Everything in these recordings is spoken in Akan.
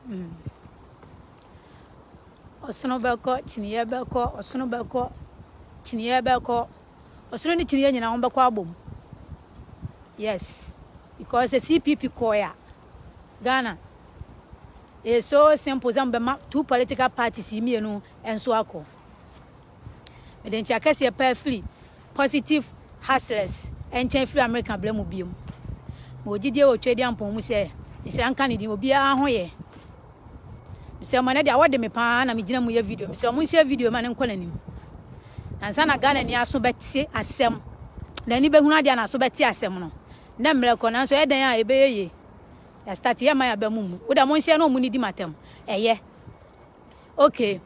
Mm. Ɔsono bɛkɔ, kyiniiɛ bɛkɔ, ɔsono bɛkɔ, kyiniiɛ bɛkɔ. Ɔsono ne kyiniiɛ nyinaa wɔn bɛkɔ abom. Yes. Because the CPP kɔɛ a, Ghana, ɛyɛ so simple sɛ mbɛma two political parties yi mmienu nso akɔ. Mede nkyea kɛseɛ paa firi Positive Hustlers nkyɛn firi Amerika berɛ mu biom. Mewɔ gyidie wɔ Tweedi Ampong mu sɛ nhyira nka ne din, obiara ho yɛ. Mesrɛ mo, ɛnɛ deɛ awɔ de me paa na megyina mu yɛ video. Mesrɛ mo nhyɛ video ma no nkɔ n'anim. Nansa na Ghana ni aso bɛte asɛm, n'ani bɛhunu adeɛ na aso bɛte asɛm no. Nnɛ mmerɛ kɔ, nanso ɛdɛn a ɛbɛyɛ yie. Yɛastate yɛ ma yɛaba mu mu. Wo deɛ monhyɛ na ɔmo nidi m'atɛm. Ɛyɛ. Okay.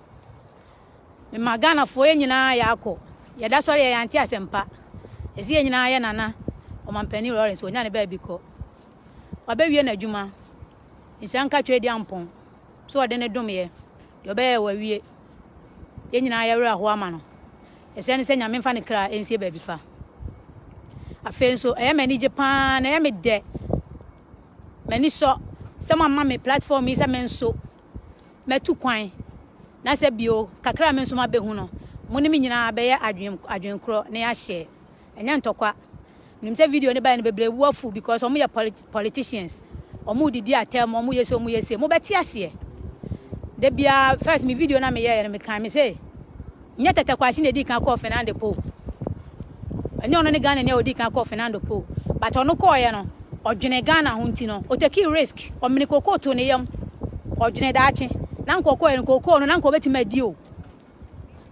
Mema Ghanafoɔ yɛn nyinaa yɛakɔ yɛda sɔre yɛ yɛante asɛmpa ɛsɛ yɛn nyinaa yɛ nana ɔmampanin Lawrence ɔnya ne baabi kɔ wabɛwie n'adwuma nhyira nka twɛ di ampɔn so ɔde ne dom yɛ deɛ ɔbɛyɛ wawie yɛn nyinaa yɛwerɛ ahoɔ ama no ɛsɛ ne sɛ nyame mfa ne kra ɛnsie baabi pa afei nso ɛyɛ m'ani gye paa na ɛyɛ me dɛ m'ani sɔ sɛ mo ama me platform yi sɛ me nso Matu kwan, na sɛ bio, kakra a me nso mabehu no, mo ne me nyinaa bɛyɛ adwen, adwen korɔ na yɛ ashare. Ɛnyɛ ntɔkwa. Menim sɛ video no baeɛ no bebree bo afu because wɔn yɛ polit, politicians. Wɔn redidi atɛm, wɔn yɛ se, wɔn yɛ se. Mo bɛte aseɛ. Da biara, first me video no a me yɛeɛ no, me kae, me se, Nyɛ Tɛtɛ Kwakye na edii kan kɔɔ Fernando Po. Ɛnyɛ ɔno ne Ghanani a odii kan kɔɔ Fernando Po. But ɔno kɔeɛ no, ɔdwenee Ghana ho nti no, otakii risk. Ɔmenee kookoo too ne yam. Ɔdwenee daakye. Na anka ɔkɔeɛ no, kookoo no, na anka ɔbɛtumi adi o,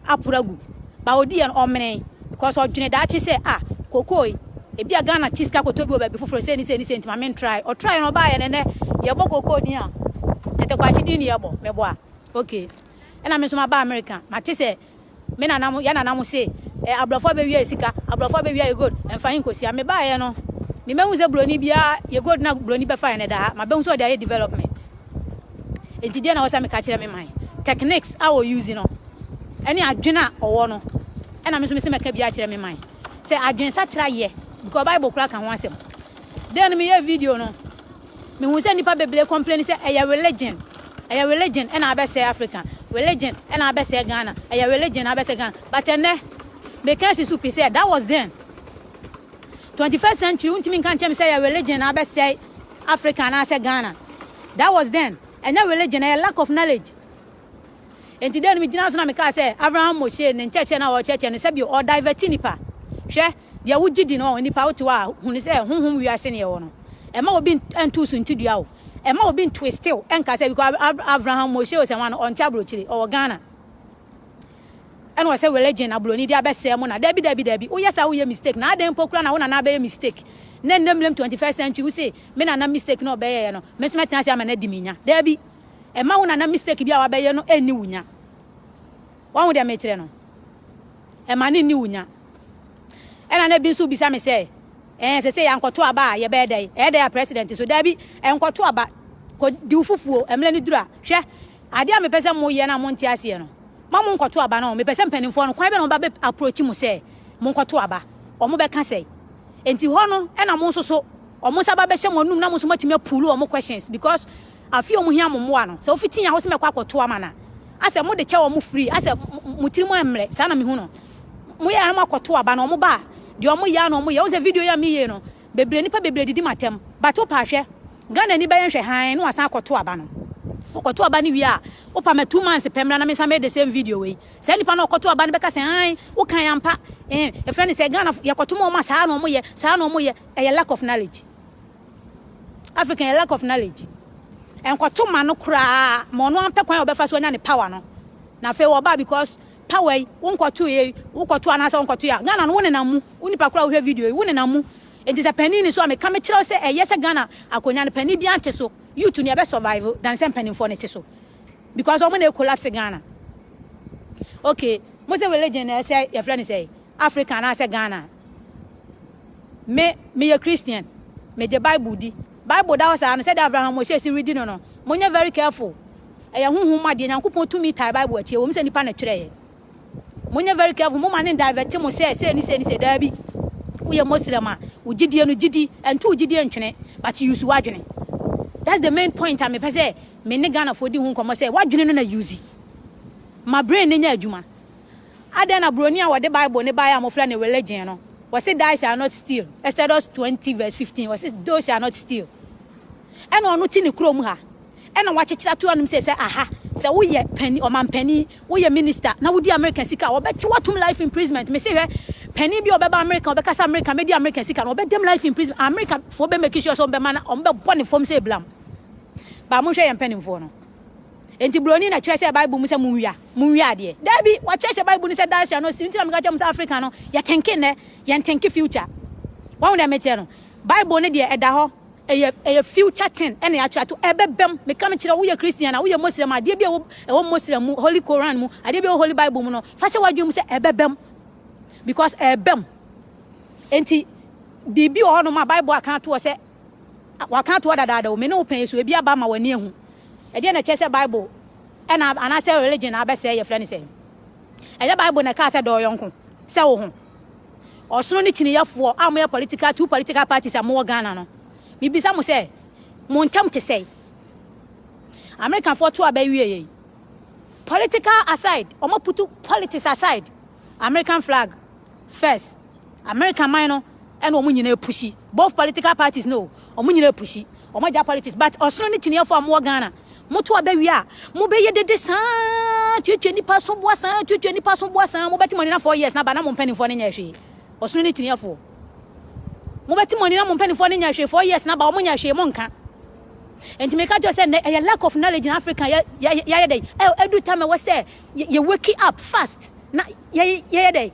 aporo agu. But odiiɛ no, ɔmenee. Because ɔdwenee daakye sɛ, ah, kookoo yi, ebia Ghana te sika kɔtɔ bi wɔ baabi foforɔ, sei ne sei ne sei, nti ma mentry. Ɔtryɛɛ na ɔbaeɛ no, ɛnnɛ, yɛbɔ kookoo din a, Tɛtɛ Kwakye din ne yɛbɔ. Meboa? Okay. ɛna me nso maba America. Mate sɛ me nana mo, yɛ nana mo se, eh, aborɔfo abɛwia yɛ sika, aborɔfo abɛwia yɛ gold, ɛmfa he nkɔsia. Mebaeɛ no, memmɛhu sɛ buroni biara, yɛ gold na buroni bɛfaeɛ no ɛda ha, mabɛhu sɛ ɔde ayɛ development. Enti deɛ na wɔsɛ meka kyerɛ me man, techniques a wɔ use no, ɛne adwene a ɔwɔ no, ɛna me nso mese mɛka bi akyerɛ me man. Sɛ adwene sakyera yɛ, because Bible koraa ka ho asɛm. Then meyɛ video no, Me hu sɛ nipa bebree complain sɛ ɛyɛ religion ɛyɛ religion ɛna abɛsɛ Africa religion ɛna abɛsɛ Ghana ɛyɛ religion abɛsɛ Ghana but ɛnɛ me ka si so pi sɛ that was then 21st century wontumi nka nkyɛn mi sɛ ɛyɛ religion na abɛsɛ Africa anaasɛ Ghana that was then ɛnyɛ religion ɛyɛ lack of knowledge enti dɛ no megyina so na mekaa sɛ Abraham Moshe ne nkyɛkyerɛ no a ɔkyɛkyerɛ no sɛ bi ɔdivɛti nipa hwɛ Deɛ wogye di no, nnipa a wote hɔ a, hunu sɛ honhom wiase na yɛwɔ no. Ɛmma obi nto wo suntidua o. Ɛmma obi ntwiste wo nka sɛ because Ab Ab Abraham Moshe Osenwa no, ɔnte aburokyire, ɔwɔ Ghana. Ɛna ɔsɛ religion na buroni de abɛsɛe mo na. Dabi, dabi, dabi. Woyɛ saa woyɛ mistake. Na adɛn mpo koraa na wo nana abɛyɛ mistake? Na nnɛ mmerɛm 21st century, wose me nana mistake na ɔbɛyɛeɛ no, me nso mɛtena ase ama no adi me nya. Dabi. Ɛmma wo nana mistake bi a wabɛyɛ no nni wo nya. Wahu deɛ mekyerɛ no? Ɛma ne nni wo nya. Ɛna na bi nso bisa me sɛ, ɛɛ sɛ sɛ yɛankɔto aba a yɛbɛyɛ dɛn? Ɛyɛ dɛn a president nso? Daabi, ɛnkɔto aba. Kɔdi wo fufuo. Mmerɛ no duru a, hwɛ, adeɛ a mepɛ sɛ moyɛ no a monte aseɛ no, ma monkɔto aba no. Mepɛ sɛ mpanimfoɔ no, kwan bɛ na wɔbɛ bɛ approach mo sɛ monkɔto aba? Wɔbɛka sɛn? Enti hɔ no, ɛna mo nso so, wɔn nsa ba bɛhyɛ mo anum na mo nso moatumi apuulu wɔn questions because afei ɔmo hia mo mmoa no, sɛ ofi tea house mɛkɔ akɔto ama no a, asɛ mode kyɛ ɔmo free, asɛ mo tiri mu ɛmmerɛ, saa na mehu no. Mo yɛ ara mo akɔto aba no, ɔmo ba a, deɛ ɔmo yɛ a na ɔmo yɛ, wohu sɛ video yi a meyie no, bebree, nipa bebree didi m'atɛm, but wopa hwɛ, Ghana ni bɛyɛ nhwɛ hann na wasan akɔto aba no, ɔkɔto aba no wie a, wopa ma two months pɛ mmra na mensan mɛyɛ the same video wei, saa nipa no a ɔkɔto aba no bɛka sɛ hann, wokae ampa, eh, yɛfrɛ no sɛ Ghana fo, yɛkɔto ma ɔmo a saa na ɔmo yɛ, saa na ɔmo yɛ, ɛyɛ lack of knowledge. African yɛ lack of knowledge. Ɛnkɔto ma no koraa ma ɔno ampɛ kwan a ɔbɛfa so anya ne power no. Na afei wɔba because power yi wonkɔto yɛ wokɔto anaasɛ wonkɔto yɛ. Ghana no wo nenam mu. Wo nipa koraa wohwɛ video yi wo nenam mu. Enti sɛ panin ni so a meka mekyerɛ sɛ ɛyɛ sɛ Ghana akonya no panin biara nte so. Youth no yɛbɛ survive dan sɛ mpanimfoɔ no te so. Because wɔn na collapse Ghana. Okay, mo sɛ religion na ɛsɛ yɛfrɛ no sɛ Africa anaasɛ Ghana. Me, meyɛ Christian. Megye Bible di. Bible da hɔ saa no, sɛdeɛ Abraham Moshe si redi no no, monyɛ very careful. Ɛyɛ honhom mu adeɛ. Nyankopɔn tumi tae Bible akyi. Ɛwɔ mu sɛ nipa na ɛtwerɛeɛ. Monyɛ very careful. Moma ne divert mo sɛ sei ne sei ne sei. Daabi. Woyɛ Muslim a, wo gyidie no gyidi. Ɛnto wo gyidie ntwene. But use w'adwene. That's the main point a mepɛ sɛ me ne Ghanafoɔ di ho nkɔmmɔ sɛ w'adwene no na use. Ma brain no nyɛ adwuma. Adɛn na Buroni a wɔde Bible no baeɛ a wɔfrɛ no Religion no, ɔse Die shall not steal, Exodus twenty verse fifteen, ɔse Thou shall not steal. Ɛna ɔno te ne kurom ha, ɛna wɔakyekyere ato anom sɛ sɛ aha, sɛ woyɛ panin, ɔmampanin, woyɛ minister na wodi Amerika sika a, wɔbɛkye wo atom life imprisonment. Mese hwɛ, panin bi a ɔbɛba Amerika a ɔbɛka sɛ Amerika, mɛdi Amerika sika no, wɔbɛda mu life imprisonment. Amerikafoɔ bɛ make sure sɛ wɔbɛma no, wɔbɛbɔ ne fam sɛ eblam. Ba monhwɛ yɛn mpanimfoɔ no. Enti Buroni na kyerɛhyɛɛ Bible mu sɛ munwia, munwia adeɛ? Dabi, wɔkyerɛhyɛ Bible no sɛ Dacia no si. Nti na meka kyerɛ mo sɛ Africa no, yɛ tenke nnɛ, yɛ ntenke future. Wahu deɛ meteɛ no? Bible no deɛ, ɛda hɔ. Ɛyɛ, ɛyɛ future thing ɛna yɛatwerɛ ato, ɛbɛbam. Meka mekyerɛ wo, woyɛ Christian a, woyɛ Moslem a, adeɛ bi a ɛwɔ, ɛwɔ Moslem mu, Holy Koran mu, adeɛ bi a ɛwɔ Holy Bible mu no, fa hyɛ w'adwene mu sɛ ɛbɛbam. Because ɛbam. Enti, biribi wɔ hɔnom a Bible aka ato hɔ sɛ, Wɔaka ato hɔ dadaada o, me ne wo pɛn yi so, ebi aba ma w'ani ahu. Ɛdeɛn na ɛkyerɛ sɛ Bible ɛna anaasɛ religion na abɛsɛe yɛfrɛ no sɛn? Ɛyɛ Bible na ɛkaa sɛ dɔ ɔyɔnko sɛ wo ho. Ɔsono ne kyiniyɛfoɔ a moyɛ political two political parties a mowɔ Ghana no, mebisa mo sɛ mo ntam te sɛe? Americafoɔ to aba wie yei. Political aside, wɔn aputu politics aside, American flag First, America man no ɛna wɔn nyinaa pushi. Both political parties no, wɔn nyinaa pushi. Wɔn agya politics, but ɔsono ne kyiniefo a wɔwɔ Ghana. Moto abɛwie a, mobɛyɛ dede saa, tuatua nipa so boa saa, tuatua nipa so boa saa. Mobɛte mo ani na four years na ba na mo mpanimfoɔ no nyɛ hwee. Ɔsono ne kyiniefo. Mobɛte mo ani na mo mpanimfoɔ no nyɛ hwee four years na ba wɔn nyɛ hwee mo nka. Enti meka kyerɛ sɛ nnɛ ɛyɛ lack of knowledge in Africa yɛ yɛ yɛ dɛ. Ɛdu tam ɛwɔ sɛ yɛ wake up fast na yɛyɛ dɛ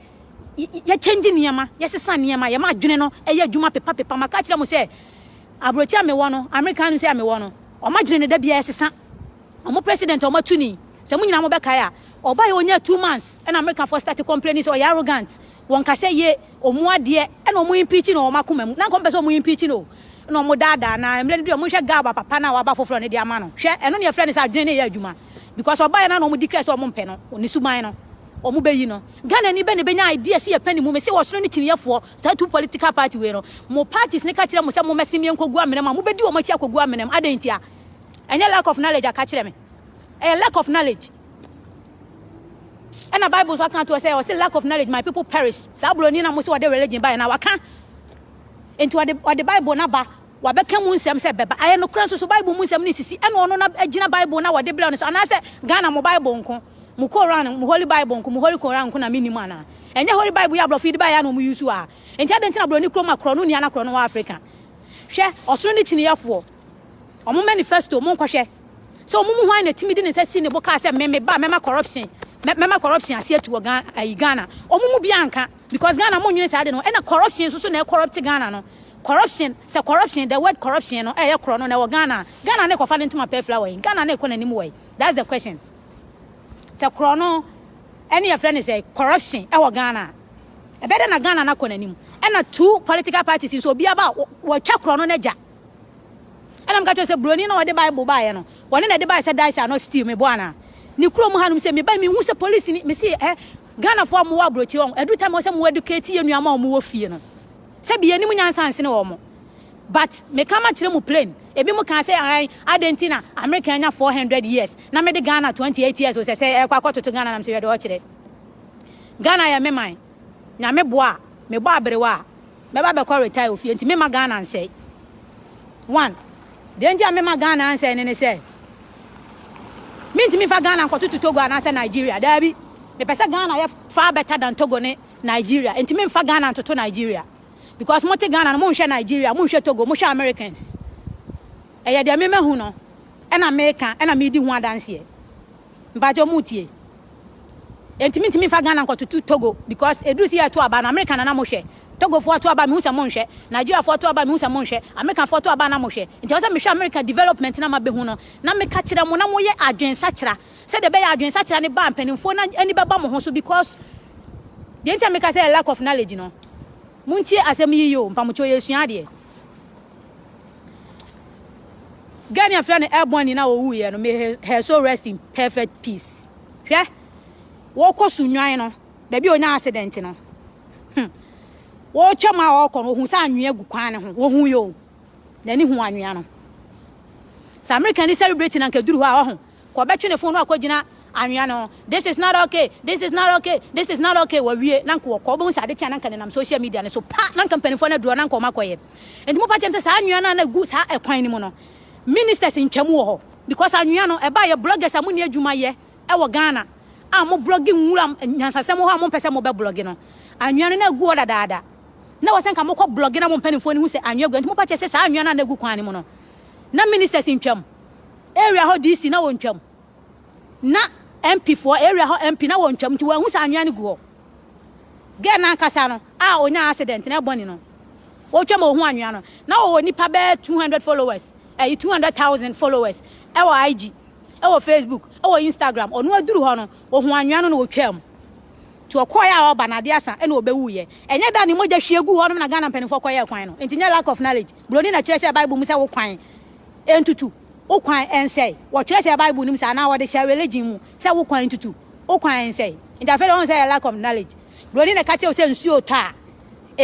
yɛkyɛngye nneɛma yɛsesa nneɛma yɛma adwene no ɛyɛ adwuma pepa pepa ma ka kyerɛ mo sɛ aburokyi a mewɔ no amerika no sɛ a mewɔ no wɔn adwene no da biara ɛsesa wɔn president a wɔn atu ni sɛ mo nyinaa mo bɛkae a ɔbaeɛ ɔnya two months ɛna amerikafoɔ start complaining sɛ ɔyɛ arrogant Wɔn kasa ye, wɔn adeɛ na wɔn impeachi no wɔ wɔn akoma mu, na anka wɔn pɛ sɛ wɔn impeachi no o, na wɔn daadaa, na mmerɛ no du a, monhwɛ Gal ba papa no a waba foforɔ no de ama no, hwɛ, ɛno ne yɛfrɛ no sɛ adwene no yɛ adwuma, because ɔbaeɛ no a na wɔn declare sɛ wɔn mpɛ no, ne suban no, wɔn bɛyi no. Ghanani bɛn na bɛnya idea sɛ yɛpɛ ne mu, mese ɔsono ne kyiniyɛfoɔ, saa two political party wei no, mo parties no ka kyerɛ mo sɛ mommɛsen me nkɔgu amena mu a, mobɛdi wɔn akyi akɔgu amena mu, adɛn ntia? Ɛnyɛ lack of knowledge a, ka kyerɛ me, ɛyɛ lack of knowledge. ɛna bible nso aka to sɛ ɔse lack of knowledge my people perish saa buroni na mo sɛ ɔde religion baeɛ na waka nti ɔde ɔde bible no aba wabɛka mu nsɛm sɛ bɛba ayɛ nokorɛ nso so bible mu nsɛm no sisi ɛna ɔno na agyina bible na wɔde brɛ no so anaasɛ ghana mo bible nko mo koran mo holy bible nko mo holy koran nko na menim anaa ɛnyɛ holy bible yɛ aborɔfo yi de baeɛ na ɔmo yusu a nti adɛn nti na buroni kurom a korɔ no nua na korɔ no wɔ afrika hwɛ ɔsono ne kyiniyɛfoɔ ɔmo manifesto mo nkɔhwɛ sɛ wɔn mu hwan na tumi de ne nsa si ne bo kaa sɛ me me ba mɛma corruption mɛma corruption ase atu wɔ Ghana ayi Ghana wɔn mu biara nka because Ghana mo nyere saa de no ɛna corruption nso so na ɛkɔrɔpte Ghana no corruption sɛ corruption the word corruption no ɛyɛ korɔ no na ɛwɔ Ghana Ghana na ɛkɔfa ne ntoma pɛ flower yi Ghana na ɛkɔ n'anim wɔ yi that's the question sɛ korɔ no ɛne yɛfrɛ ne sɛ corruption ɛwɔ Ghana ɛbɛdɛ na Ghana na kɔ n'anim ɛna two political parties nso obiara ba wɔtwa korɔ no n'agya Ɛna meka kyerɛ sɛ buroni na ɔde Bible baeɛ no, ɔne na ɛde baeɛ sɛ Daisha anaa Steele mebɔ anaa? Ne kurom hanom sɛ mebae mehu sɛ polisi ni mesi ɛ eh, Ghanafoɔ a wɔwɔ aburokyire wɔn ɛdu time sɛ wɔn educate yɛ nnuama a wɔwɔ fie no sɛ bi yɛnim nyansa nsene wɔn but meka ma kyerɛ mu plain ebi mo kan sɛ ahan adɛn nti na America anya 400 years na mede Ghana 28 years sɛ sɛ ɛkɔ akɔtoto Ghana nam sɛ yɛde ɔkyerɛ Ghana yɛ me man nyame boa mebɔ aberewa a Mɛba abɛkɔ retire wɔ fie nti memma Ghana nsɛe. One, deɛ nti a memma Ghana ansɛe no ne sɛ, mentumi mfa Ghana nkɔtoto Togo anaasɛ Nigeria. Daabi. Mepɛ sɛ Ghana yɛ far better than Togo ne Nigeria. Nti memfa Ghana ntoto Nigeria. Because mote Ghana no, monhwɛ Nigeria, monhwɛ Togo, mohwɛ Americans. Ɛyɛ deɛ me mahu no ɛna meka, ɛna medi ho adanseɛ. Mpakyɛw motie. Enti mintumi mfa Ghana nkɔtoto Togo because eduru sɛ yɛreto aba no Amerika na na mohwɛ. Togofoɔ to aba a mehu sɛ monhwɛ. Nigeriafoɔ to aba a mehu sɛ monhwɛ. Amerikafoɔ to aba a na mohwɛ. Enti ɛwɔ sɛ mehwɛ Amerika development na mabehu no na meka kyerɛ mo na moyɛ adwensakyera sɛdeɛ ɛbɛyɛ a adwensakyera no ba a mpanimfoɔ no ani bɛba mo ho so because deɛ nti a meka sɛ ɛyɛ lack of knowledge no montie asɛm yi yie o, mpamokyɛw yɛresua adeɛ. Gani afrɛ no ɛbɔn ni na owu yɛ no may her soul rest in perfect peace. Hwɛ wɔkɔ so nwan no baabi a onya accident no. Hmm. Wɔtwa mu a ɔkɔ no ohun sɛ anwea gu kwan no ho. Ohun yɛ o. N'ani hu anwea no. Sɛ Amerika ni celebrate na nka duru hɔ a ɔho. kɔ bɛtwe ne fon no akɔgyina anwea no ho, this is not okay, this is not okay, this is not okay, wawie, na nka wɔkɔ, wobɛhu sɛ ade kye a na nka nenam social media no so pa, na nka mpanimfoɔ no aduru hɔ, na nka wɔakɔyɛ. Nti mopa kyɛm sɛ saa anwea no a na ɛgu saa ɛkwan no mu no, ministers ntwa mu wɔ hɔ, because anwea no ɛba yɛ bloggers a monni adwuma yɛ ɛwɔ Ghana a mo blogge nwura nyansasɛm wɔ hɔ a mompɛ sɛ mobɛ blogge no, anwea no na ɛgu hɔ dadaada. Na wɔ sɛ nka mokɔ blogge na mo mpanimfoɔ no hu sɛ anwea gu hɔ, nti mopa kyɛ sɛ saa anwea no a na ɛgu kwan no mu no, na ministers ntwam, area hɔ DC na wɔntwam. Na MP foɔ, area hɔ MP na wɔntwam nti wɔahu sɛ anwea no gu hɔ. Girl no ankasa no a ɔnyaa accident na ɛbɔ ne no, wɔtwam a ɔhu anwea no, na ɔwɔ nipa bɛyɛ 200 followers, ɛyi 200,000 followers ɛwɔ IG, ɛwɔ Facebook, ɛwɔ Instagram. Ɔno aduru hɔ no, ɔhu anwea no na ɔtwam. Nti ɔkɔɔyɛ a ɔba no adeɛ asa ɛna ɔbɛwuiɛ. Ɛnyɛ da ne mogya hwie gu hɔ nom na Ghana mpanimfoɔ kɔyɛɛ kwan no. Nti nyɛ lack of knowledge. Buroni na kyerɛ hyɛɛ Bible mu sɛ wo kwan ntutu wo kwan nsɛe. Wɔtwerɛ hyɛ Bible no mu sɛ anaa wɔde hyɛ religion mu sɛ wo kwan ntutu wo kwan nsɛe. Nti afei deɛ wɔn sɛ yɛ lack of knowledge. Broni na ɛka kyerɛ wo sɛ nsuo tɔ a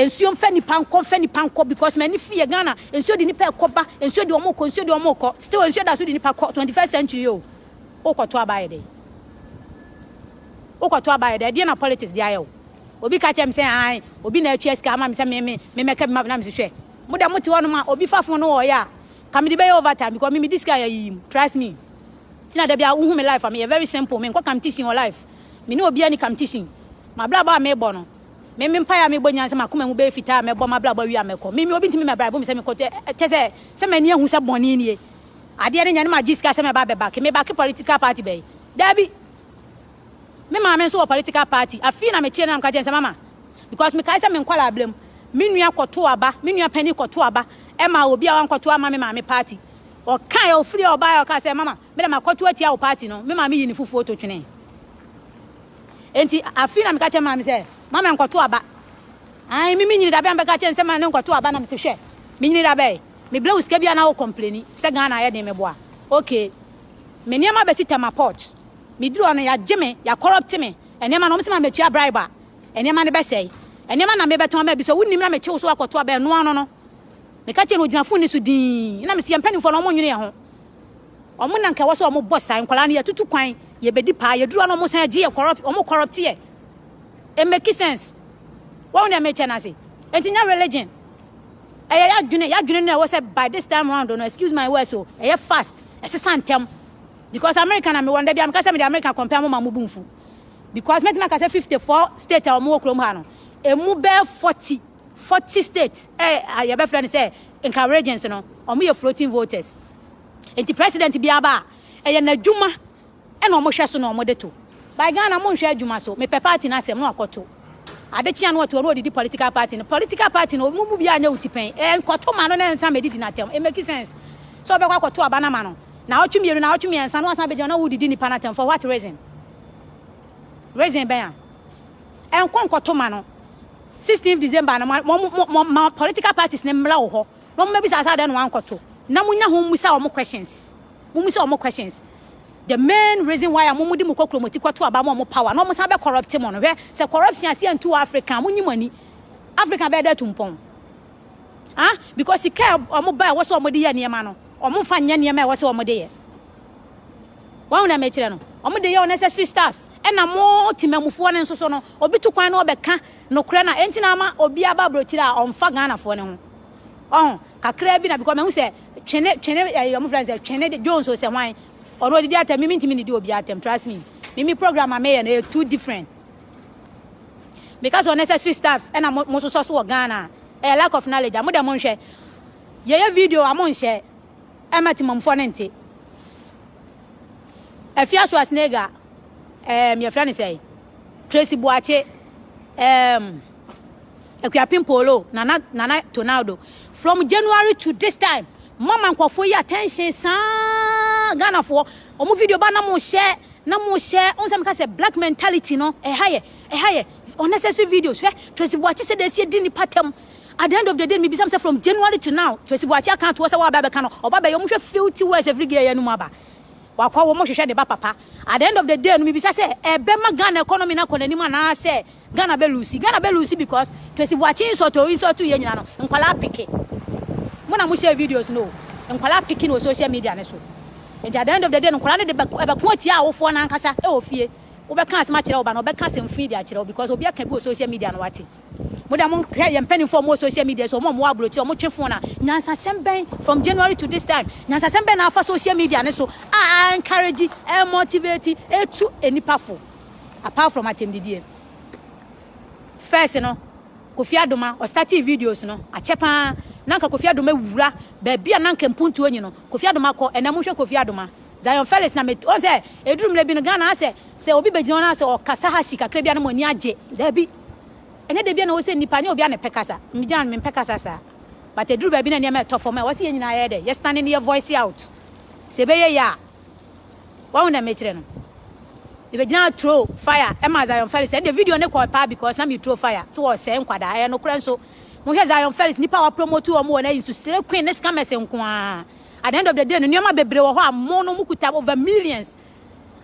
nsuo mfa nipa nkɔ mfa nipa nkɔ because m'ani fi yɛ Ghana nsuo de nipa ɛkɔ ba nsuo de wɔn kɔ nsuo de wɔn kɔ still nsuo da so de nipa kɔ 21st century o wokɔto aba yɛ dɛ wokɔto aba yɛ dɛ ɛdeɛ na politics de ayɛ o obi ka kyerɛ me sɛ an obi na atua sika ama me sɛ me me me mɛka bi ma na me sɛ hwɛ Mo dɛ mote hɔnom a obi fa phone no wɔyɛ a ka mede bɛyɛ over time because me medi sika yɛ ayiyi mu trust me nti na dabiaa wohu me life a meyɛ very simple me nkɔ kamtition wɔ life me ne obia ni kamtition mabrabɔ a mebɔ no me me mpaeɛ a mebɔ nyinaa sɛ makoma mu bɛyɛ fitaa a mɛbɔ mabrabɔ awie a mɛkɔ me me obi ntimi mɛ bribe me sɛ mekɔ kyɛ sɛ sɛ mani ahu sɛ bɔne nie adeɛ no nyɛ ne magye sika sɛ mɛba bɛbake mebake political party bɛyi daabi Me maame nso wɔ political party. Afei na meteɛ no na meka kyerɛ sɛ mama because mekae sɛ me nkwadaa berɛ mu me nua kɔto aba, me nua panin kɔto aba ɛma obi a wankɔto ama me maame party. Ɔkae a ɔfiri a ɔbaeɛ ɔkaa sɛ mama me de makɔto atia wo party no, me maame yi ne fufuo to twene. Enti afei na meka kyerɛ maame sɛ mama nkɔto aba. Ae me menyini dabɛ a mebɛka kyerɛ no sɛ ma ne nkɔto aba na mese hwɛ menyini dabɛ mebrɛ wo sika bi a na wo kɔmpleni sɛ Ghana ayɛ den meboa. Okay. Me nneɛma bɛsi Tema Port. Meduru hɔ no, yɛagye me, yɛakɔrɔpte me nneɛma na wɔse ma metua bribe a, nneɛma no bɛsɛe. Nneɛma na merebɛtɔn ma bi sɛ wonim na mekye wo so akɔto a, bɛnoa no no. Meka kyerɛɛ no, ɔgyina fon no so dinn. Ɛnna mese, yɛn mpanimfoɔ no, wɔnnwene yɛn ho. Wɔn na anka ɛwɔ sɛ wɔbɔ saa nkwadaa no, yɛatutu kwan, yɛbɛdi paa, yɛduru hɔ no wɔsan agye yɛ, wɔkɔrɔpte yɛ. Ɛmmeki sense. Woahu deɛ mekyɛ no ase? Enti nyɛ religion. Ɛyɛ yɛadwene, yɛadwene no na ɛwɔ sɛ by this time round no, excuse my words o, ɛyɛ fast, ɛsesa ntɛm. Because America na me wɔ no, da bia meka sɛ mede America compare mo ma mo bu mfu. Because mɛtumi aka sɛ 54 state a wɔn wɔ kurom ha no, emu bɛɛ 40, 40 state ɛ a yɛbɛfrɛ no sɛ nka regions no, wɔn yɛ floating voters. Nti president biara ba a, ɛyɛ n'adwuma ɛna wɔn hwɛ so na wɔn de to. By Ghana mo nhwɛ adwuma so, mepɛ party no asɛm na wakɔto. Ade kye a na ɔtoa na ɔdidi political party no. Political party no ɔmo mu biara nyɛ wo ti pɛn. Ɛɛ nkɔto ma no na nsa ma ɛdidi n'atɛm. It make sense sɛ ɔbɛkɔ akɔto aba no ama no. Naawɔtwe mmienu, naawɔtwe mmiɛnsa na wasan abɛgyina na wodidi nipa no atɛm for what reason? Reason bɛn a? Ɛnkɔ nkɔto ma no. 16th December no mo mo mo ma political parties no mmra wo hɔ na ɔmo mɛbisa sɛ adɛn na wankɔto na mo nya ho mmisa ɔmo questions. Mo mmisa ɔmo questions. The main reason why a mo mo de mo kɔ kuromoti kɔ to aba ma ɔmo power na ɔmo san bɛ corrupt mo no hwɛ sɛ corruption ase antu wɔ Africa mo nyi mo ani Africa bɛyɛ dɛ atu mpɔn ah because sika a ɔmo ba ɛwɔ sɛ ɔmo de yɛ nneɛma no ɔmo nfa nyɛ nneɛma ɛwɔ sɛ ɔmo de yɛ wɔn na mɛkyerɛ no ɔmo de yɛ unnecessary staffs ɛna mo temamufoɔ no nso so no obi to kwan na ɔbɛka nokorɛ na ɛnti na ama obi aba aburokyire a ɔmfa Ghanafoɔ no ho ɔho kakra bi na because mahu sɛ twene twene ɛyɛ eh, ɔmo fira sɛ twene de Jones o sɛ hwan ɔno odidi atɛm mimi ntumi nidi obi atɛm trust me mimi program a meyɛ no ɛyɛ two different meka sɛ unnecessary staffs ɛna mo mo sosɔ so wɔ Ghana ɛyɛ lack of knowledge a mo dɛ mo nhwɛ yɛyɛ video a mo nhyɛ ɛma timamfoɔ ne nte afia so asnega ɛɛm yɛfrɛ ne sɛ Tracy Boakye, um, Akuapem Polo, Nana, Nana Tonaldo. From January to this time, mama nkurɔfoɔ yi attention saa Ghanafoɔ. Wɔn video ba na mo hyɛ na mo hyɛ ɔn sɛ mo ka sɛ black mentality no ɛha yɛ ɛha yɛ unnecessary videos hwɛ Tracy Boakye sɛ deɛ ɛsi di nipa tɛm at the end of the day mi bisa sɛ from January to now Tracy Boakye aka ato hɔ sɛ wɔaba abɛka no ɔba bɛyɛ wɔn hwɛ filthy words every day yɛ no mu aba. Wakɔ wɔn hwehwɛ ne ba papa. At the end of the day no mibisa sɛ ɛbɛma Ghana economy no akɔ n'anim anaasɛ Ghana bɛ lose. Ghana bɛ lose because Twesi Boakye insult a ɔinsult yɛn nyinaa no nkwadaa peke. Mo na mo share videos no o. Nkwadaa peke no wɔ social media no so. Nti at the end of the day no nkwadaa no de bɛko ɛbɛko atia awofoɔ no ankasa wɔ fie. Wobɛka asɛm akyerɛ wo ba no ɔbɛka asɛmfui de akyerɛ wo because obi aka bi wɔ social media no wate. Mo deɛ mo hwɛ yɛn mpanimfoɔ a wɔwɔ social media so, wɔn a wɔwɔ aburokyire, wɔtwe phone a, nyansasɛm bɛn from January to this time, nyansasɛm bɛn na afa social media no so a a encourage, a motivate, etu nnipa fo apart from atɛmdidie. First no, Kofi Adoma, ɔstartee videos no, akyɛ paa, na anka Kofi Adoma wura baabi a na anka mpuntuo nyi no, Kofi Adoma kɔ, ɛnna monhwɛ Kofi Adoma. Zion Felix na met, wɔn sɛ, ɛduru mmerɛ bi no Ghana asɛ, sɛ obi bɛgyina hɔ na asɛ ɔkasa hashi kakra bi a na mo ani agye, daabi. Ɛnyɛ da biara na ɛwɔ sɛ nnipa ne obi a na ɛpɛ kasa. Me deɛ ano mempɛ kasa saa. But ɛduru baabi na nneɛma ɛtɔ fam a, ɛwɔ sɛ yɛn nyinaa yɛyɛ dɛ, yɛsane na yɛ voice out. Sɛ ɛbɛyɛ yie a. Wahu deɛ mekyerɛ no? Mebɛgyinaa throw fire ɛma Zion Felix. Ɛnde video no kɔe paa because na me throw fire sɛ wɔresɛe nkwadaa. Ɛyɛ nokorɛ nso. Mohwɛ Zion Felix, nnipa a wɔapromote wɔn wɔ n'ayi so, slay queen ne scammers nko ara. At the end of the day no, nneɛma bebree wɔ hɔ a mo no mokuta over millions.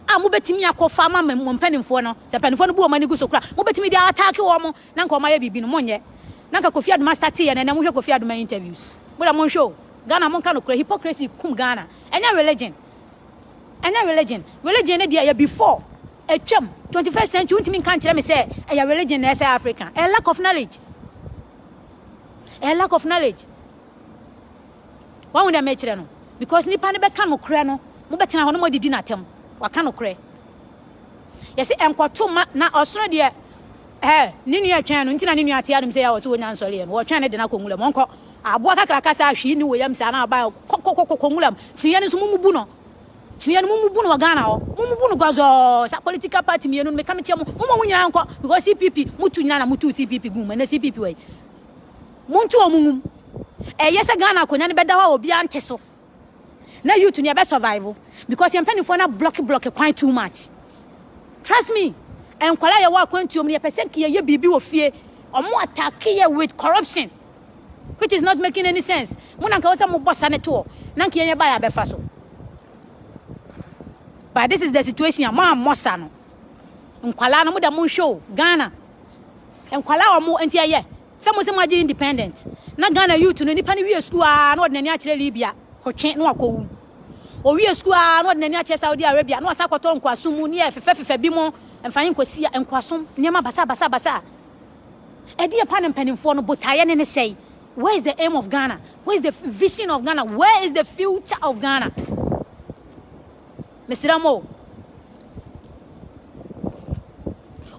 a mobɛtumi akɔfa ama mo mpanimfoɔ no, sɛ mpanimfoɔ no bu wɔn ani gu so kora, mobɛtumi de ataake wɔn mo, na nka wɔn ayɛ biribi no, monyɛ. Na nka Kofi Adoma starte yɛ no ɛnɛ, monhwɛ Kofi Adoma interviews. Mo deɛ monhwɛ o, Ghana monka nokorɛ, hypocrisy kum Ghana, ɛnyɛ religion, ɛnyɛ religion, religion no deɛ ɛyɛ before, atwam, 21st century, wontumi nka nkyerɛ me sɛ ɛyɛ religion na ɛsɛ Africa, ɛyɛ lack of knowledge, ɛyɛ lack of knowledge. Wahu dɛ mekyerɛ no? Because nyimpa no bɛka nokorɛ no, mobɛtsena hɔ na moedidi no atsɛm. Ɔaka nokorɛ. Yɛse nkɔto mma, na ɔsono deɛ ɛ, ne nua ɛtwɛn no, nti na ne nua ate anom sɛ yɛ ɔse wɔnya nsɔre yɛ no, wɔtwɛn no de no akɔ nwura mu, ɔnkɔ. Aboa kakraka saa a hwee nni wɔ yam saa na ɔba, kɔ kɔ kɔ kɔ nwura mu. Kyineɛ no nso mo mubu no. Kyineɛ no mo mubu no wɔ Ghana hɔ. Mo mubu no gɔzɔɔ, saa political party mmienu no, meka mekyerɛ mo, momma wɔn nyinaa nkɔ, because CPP, motu nyinaa na motuu CPP guu mu, ɛnɛ CPP wɔ he? Monto wɔn nwom. Ɛyɛ sɛ Ghana akonya no bɛda hɔ a obiara nte so. Na youth no yɛbɛ survive because yɛn mpanimfoɔ no ablɔke blɔke kwan too much. Trust me, nkwadaa yɛwɔ akwantuo mu no yɛpɛ sɛ nka yɛyɛ biribi wɔ fie. Wɔn atake yɛ with corruption which is not making any sense. Mo na nka wɔ sɛ mobɔ sa ne toɔ na nka yɛn yɛbaeɛ abɛfa so. But this is the situation a moammɔ sa no. Nkwadaa no mo da monhwɛ o Ghana. Nkwadaa wɔn nti ɛyɛ. Sɛ mo se mo agye independent na Ghana youth no nipa no wie sukuu aa na ɔde n'ani akyerɛ Libya ko twe na wakɔ wu. Owie sukuu aa na ɔde n'ani akyerɛ Saudi Arabia na wasan akɔtɔ nkoasom mu neɛ fefɛ fefɛ bi mo mfa yi nkɔ sia nkoasom nneɛma basaa basaa basaa. Ɛdeɛ pa na mpanimfoɔ no botaeɛ ne ne sɛe? Where is the aim of Ghana? Where is the vision of Ghana? Where is the future of Ghana? Mesrɛ mo o.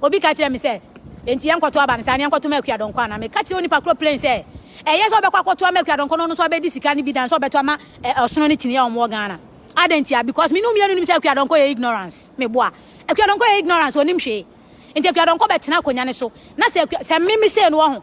Obi ka kyerɛɛ me sɛ, Enti yɛnkɔto aba no saa, na yɛnkɔto ma Akua Donkɔ anaa? Meka kyerɛɛ onipa korɔ plain sɛ, Ɛyɛ sɛ ɔbɛkɔ akɔto ama Akua Donkɔ na ɔno nso abɛdi sika no bi than sɛ ɔbɛto ama eh, ɔsono ne kyiniiɛ a wɔwɔ Ghana. Adɛn ntia? Because me ne wo mmienu nim sɛ Akua Donkɔ yɛ ignorance. Meboa. Akua Donkɔ yɛ ignorance, ɔnnim hwee. Enti Akua Donkɔ bɛtena akonnwa no so, na sɛ Akua, sɛ me, me sei no, wɔ ho,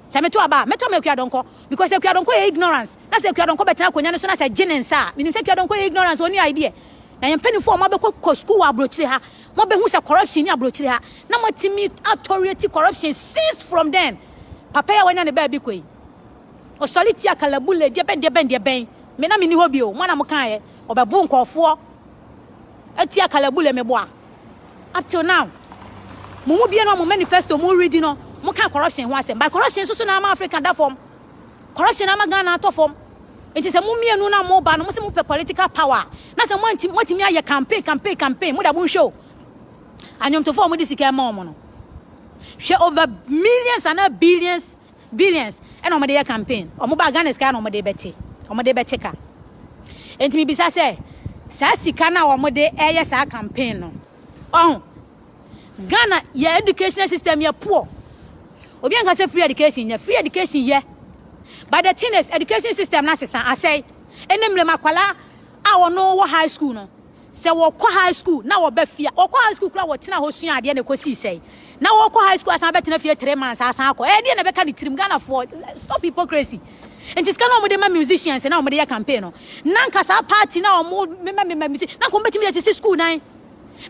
Sɛ meto aba a, mɛtɔ ama Akuadɔnkɔ because Akuadɔnkɔ yɛ ignorance. Na sɛ Akuadɔnkɔ bɛtena akonwa no so na sɛ gye ne nsa a, menim sɛ Akuadɔnkɔ yɛ ignorance, ɔnni idea. Na yɛn mpanyinfoɔ a moabɛkɔ kɔ sukuu wɔ abrokyire ha, moabɛhu sɛ corruption nni abrokyire ha. Na moatumi a tolerate corruption since from then. Papa yi a wanya ne baabi kɔ yi, ɔsɔre tia kalabule, deɛ bɛn deɛ bɛn deɛ bɛn. Me na menni hɔ bio, mo ara na mokaeɛ, ɔbɛbo nkɔɔfoɔ atia kalabule, meboa. Up till now, mo mu biara mo manifesto mo ready no, mo ka corruption ho asɛm. By corruption so so na ama Africa da fam. Corruption ama Ghana atɔ fam. Nti sɛ mo mmienu na mo ba no, mo se mo pɛ political power. Na sɛ mo anti mo timi ayɛ campaign, campaign, campaign, mo da mo nhwɛ o. Anwomtofo a mo de sika ɛma wɔn no, hwɛ over millions ana billions Billions na wɔde yɛ campaign. Wɔn ba Ghana sika na wɔde bɛte. Wɔde bɛte ka. Enti me bisa sɛ, saa sika no a wɔde ɛyɛ saa campaign no, ɔho, Ghana yɛ educational system yɛ poor. Obi anka sɛ free education yɛ, free education yɛ. But the thing is, education system no asesa, asɛe. Ɛnɛ mmerɛ mu akwadaa a wɔn wɔ high school no, Sɛ wɔkɔ high school na wɔba fie a, wɔkɔ high school koraa a wɔtena hɔ sua adeɛ na ɛkɔsii sɛn? Na wɔkɔ high school asan abɛtena fie three months asan akɔ. Ɛyɛ deɛ na ɛbɛka ne tirim. Ghanafoɔ, stop hypocrisy. Nti sika na wɔde ma musicians na wɔde yɛ campaign no, na nka saa party na wɔmemamema musicians, na nka wɔbɛtumi de asisi school dan.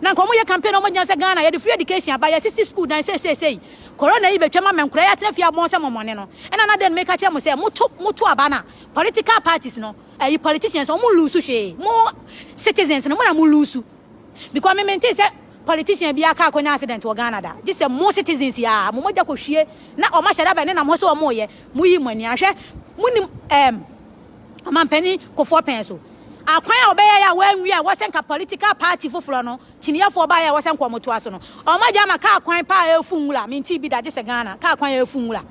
Na nka wɔyɛ campaign na wɔgyina sɛ Ghana yɛde free education aba, yɛasisi school dan seeseesei. Corona yi bɛtwam ama nkora yi atena fie abɔn sɛ mɔmɔne no. Ɛna na dɛn meka kyerɛ mo sɛ moto moto aba no a, political parties no, Ɛyi politicians ɔmo lose hwee mo citizens no mo na mo lose because me mente sɛ politician biaa car kɔnya accident wɔ Ghana da gye sɛ mo citizens yi aa mo mogya kɔ hwie na ɔmo ahyɛda bɛn ne nam hɔ sɛ ɔmo yɛ mo yi mo ani ahwɛ mo nim ɛɛm ɔmanpanin kofoɔ pɛn so akwan a ɔbɛyɛɛ a wanwie a ɛwɔ sɛ nka political party foforɔ no kyiniyɛfoɔ baeɛ a ɛwɔ sɛ nka ɔmo toa so no ɔmo agya ama car kwan paa ɛɛfu nwura mentee bi da gye sɛ Ghana car kwan ɛɛfu nwura.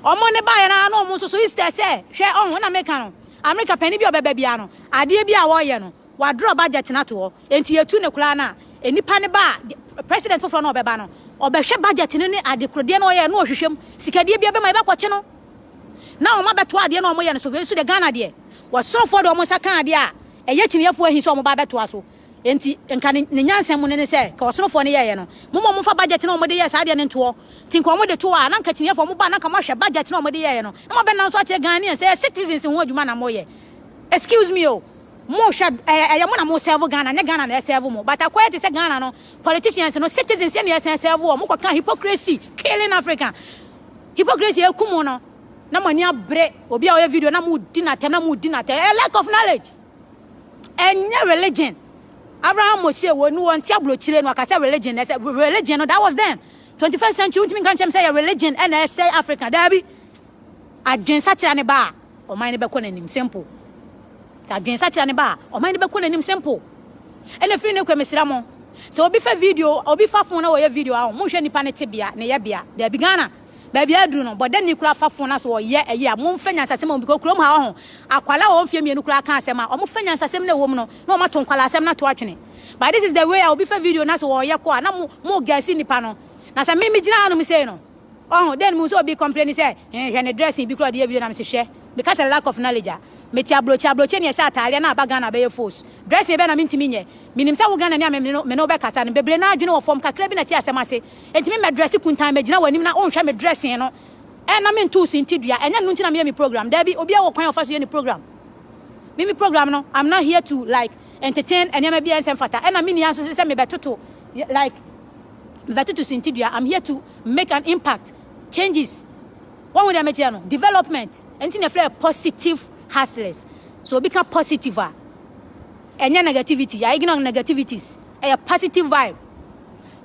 Wɔn ne baeɛ no ara na wɔn nso so Easter sɛ hwɛ ɔho na meka no America panin bi a ɔbɛba biara no adeɛ bi a wɔreyɛ no wadrɔ budget no ato hɔ enti yɛtu ne koraa no a nnipa no ba a president foforɔ no ɔbɛba no ɔbɛhwɛ budget no ne adekorodeɛ no ɔyɛ no ɔhwehwɛ mu sikadeɛ bi abɛma yɛbɛkɔkye no na wɔn abɛto adeɛ na wɔyɛ no so wei nso de Ghana deɛ wɔsorofoɔ de wɔn nsa ka adeɛ a ɛyɛ kyiniafoɔ ahi sɛ wɔn ba abɛtoa so Enti, nka ne, ne nyansa mu no ne sɛ, nka ɔsonofoɔ no yɛeɛ no, Momma wɔmfa budget no a wɔde yɛɛ saa adeɛ no ntoɔ. Nti nka wɔde to hɔ a, na nka kyiniiɛfoɔ no moba a, na nka moahwɛ budget no a wɔde yɛeɛ no, na moabɛnam nso akyerɛ Ghanaians sɛ ɛyɛ citizens ho adwuma na moyɛ. Excuse me o, mohwɛ, ɛyɛ, ɛyɛ mo na mo serve Ghana, ɛnyɛ Ghana na ɛserve mo. But akɔyɛ te sɛ Ghana no, politicians no, citizens yɛ na yɛsan serve wɔn. Mokɔka hypocrisy killing Africa. Hypocrisy a ɛku mo no, na mo ani abere obi a ɔyɛ video na modi no atɛm, na modi no atɛm. Ɛyɛ lack of knowledge. Ɛnyɛ religion. Abraham Moshe wɔ no wɔnte abrokyire no ɔka sɛ religion na ɛsɛ religion no that was then 21st century wontumi nka nkyɛm sɛ yɛ religion ɛna ɛsɛ Africa daabi adwensakyera ne ba a ɔman no bɛkɔ n'anim simple adwensakyera ne ba a ɔman no bɛkɔ n'anim simple ɛna firi ne kɔ mesra mo sɛ obi fa video obi fa phone na wɔyɛ video a mo hwɛ nipa ne tebea ne yɛ bea daabi Ghana Baabi aduru no, bɔ dɛnni koraa fa fon na so ɔyɛ ɛye a monfa nyansasɛm wɔ mu because kurom ha wɔ ho akwalaa wɔ mfie mmienu koraa ka asɛm a ɔmo fa nyansasɛm na ɛwɔ mu no na ɔmo ato nkwalaa asɛm na to atwene but this is the way a obi fa video na so ɔyɛ kɔ a na mo mo gɛsi nnipa no na sɛ me me gyina ha nom sei no ɔho then mo nso obi complaini sɛ eh hwɛ ne dressing bi koraa ɔde yɛ video na me se hwɛ me ka sɛ lack of knowledge a mete abrokye abrokye ne ɛhyɛ ataadeɛ na aba Ghana bɛyɛ foos dressing bɛn na mentumi nyɛ menim sɛ wo Ghana ni a me no me no bɛkasa no bebree no adwene wɔ fam kakra bi na te asɛm ase Enti me mɛdrɛse kuntann, magyina w'anim na wonhwɛ me dressing no ɛ na mentow sintidua. Ɛnyɛ ɛno nti na meyɛ me program. Dabi, obiara wɔ kwan a ɔfa so yɛ ne program. Me me program no, I'm not here to like entertain nneɛma bi a ɛnsɛ mfata. Ɛna menni ara nso sɛ sɛ mebɛtoto like mebɛtoto sintidua. I'm here to make an impact, changes. Woahu deɛ mekyerɛ no? Development. Ɛno nti na ɛfrɛ yɛ positive hustlers. So obi ka positive a, ɛnyɛ negativity. I ignore negativities. Ɛyɛ positive vibe.